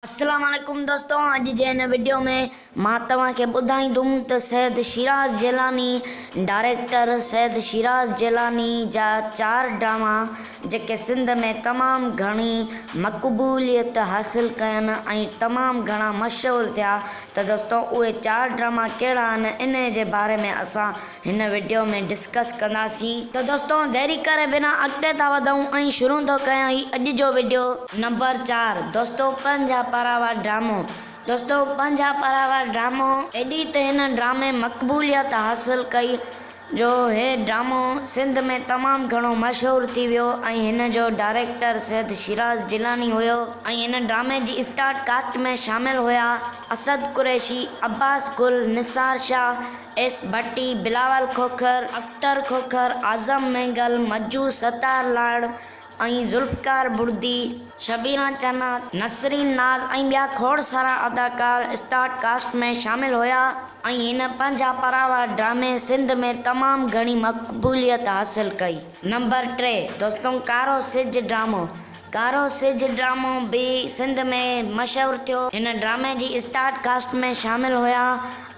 السلام عليڪم دوستو اڄ جي هن وڊيو ۾ مان توهان کي ٻڌائيندم ته سيد شيراز جيلاني ڊائريڪٽر سيد شيراز جيلاني جا چار ڊراما جيڪي سنڌ ۾ تمام گهڻي مقبوليت حاصل ڪين ۽ تمام گهڻا مشهور ٿيا ته دوستو اهي چار ڊراما ڪهڙا آهن انهي جي باري ۾ اسان هن وڊيو ۾ ڊسڪس ڪنداسين. ته دوستو ديري ڪري بنا اڳتي ٿا وڌون ۽ شروع ٿو ڪيان هي اڄ جو وڊيو. نمبر چار دوستو پنجاهه پارا وار ڊرامو دوستو پنجاهه پارا وار ڊرامو ايڏي ته هن ڊرامي مقبوليت حاصل ڪئي جو هي ڊرامو سنڌ ۾ تمام گهڻو مشهور ٿي ويو ۽ هن جو ڊائريڪٽر سيد شيراز جيلاني هيو ۽ هن ڊرامي جي اسٽارٽ ڪاسٽ ۾ شامل هيا اسد قريشي، عباس گل، نثار شاهه، ايس ڀٽي، بلاول کوکر، اختر کوکر، اعظم مينگل، مجو ستار لاڙ ۽ ذوالفقار بڙدي، شبينا چنا، نسرين ناز ۽ ٻيا کوڙ سارا اداڪار اسٽار ڪاسٽ ۾ شامل هيا ۽ هن پنهنجا پراوا ڊرامي سنڌ ۾ تمام گهڻي مقبوليت حاصل ڪئي. نمبر ٽي، دوستون ڪارو سج ڊرامو ڪارو سج ڊرامو به سنڌ ۾ مشهور ٿيو. هن ڊرامي جي اسٽارٽ ڪاسٽ ۾ شامل هيا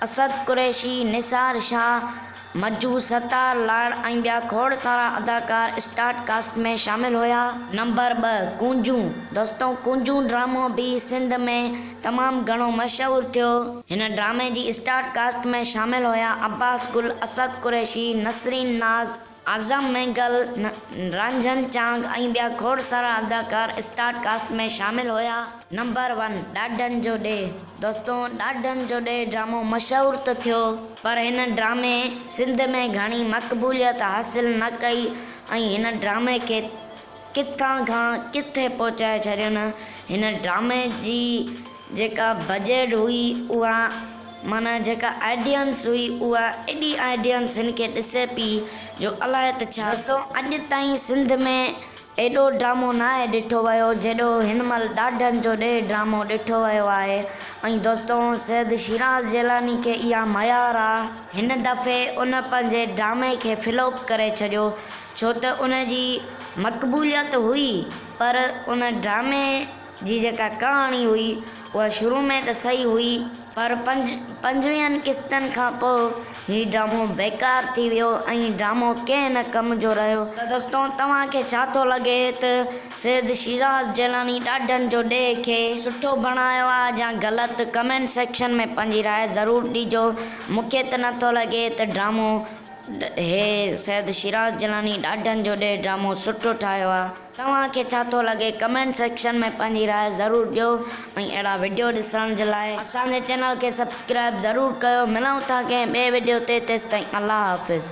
اسد قريشي، نثار شاهه، مجو، ستار لاڙ ۽ ٻيا کوڙ سارا اداڪار اسٽارٽ ڪاسٽ ۾ شامل هيا. نمبر ٻه، ڪونجون دوستو ڪونجون ڊرامو به سنڌ ۾ تمام گهڻو مشهور ٿيو. هن ڊرامي جي اسٽارٽ ڪاسٽ ۾ شامل هيا عباس گل، اسد قريشي، نسرين ناز، اعظم مينگل، رنجن چانگ ۽ ٻيا کوڙ سارا اداڪار اسٽار ڪاسٽ ۾ شامل هيا. نمبر ون، ڏاڏن جو ڏيهه، دوستو ڏاڏن جو ڏيهه ڊرامو مشهور ته ٿيو، پر هن ڊرامي سنڌ ۾ گهڻي مقبوليت حاصل نه ڪئي ۽ هن ڊرامي کي ڪٿان کان ڪٿي پهچائي ڇڏين، هن ڊرامي جي. جيڪا بجيٽ هئي اها معنيٰ جيڪا آئيڊينس هئي اها ايڏي آئيڊينس هن کي ڏسي پئي جو الائي ته ڇا. دوستو اڄ تائين سنڌ ۾ ايڏو ڊرامو ناهي ڏٺو ويو جيڏو هن مهل ڏاڍن جو ڏيهه ڊرامو ڏٺو ويو آهي ۽ دوستو سيد شيراز جيلاني کي اها ميار آ. هن دفعي ان پنهنجي ڊرامي کي فلوپ ڪري ڇڏيو ڇو ته ان جي مقبوليت هئي پر ان ڊرامي جي جيڪا ڪهاڻي هئي اها شروع ۾ ته صحيح هئي پر پنج پنجويهن قسطن کان پوء هي ڊرامو بيڪار ٿي ويو ۽ ڊرامو ڪنهن نه ڪم جو رهيو. ته دوستو توهان کي ڇا ٿو لڳي ته سيد شيراز جيلاني ڏاڍن جو ڏيهه کي سٺو بڻايو آهي يا غلط ڪمينٽ سيڪشن ۾ پنهنجي راء ضرور ڏيجو مونکي ته نه ٿو لڳي ته ڊرامو هي سيد شيراز جيلاني ڏاڍن جو ڏيهه ڊرامو سٺو ٺاهيو آهي. توهان کي ڇا ٿو لڳي؟ ڪمينٽ سيڪشن ۾ پنهنجي راء ضرور ڏيو ۽ اهڙا وڊيو ڏسڻ جي لاء اسان جي چينل کي سبسڪرائب ضرور ڪيو ملون ٿا ڪنهن ٻئي وڊيو تي تيستائين الله حافظ.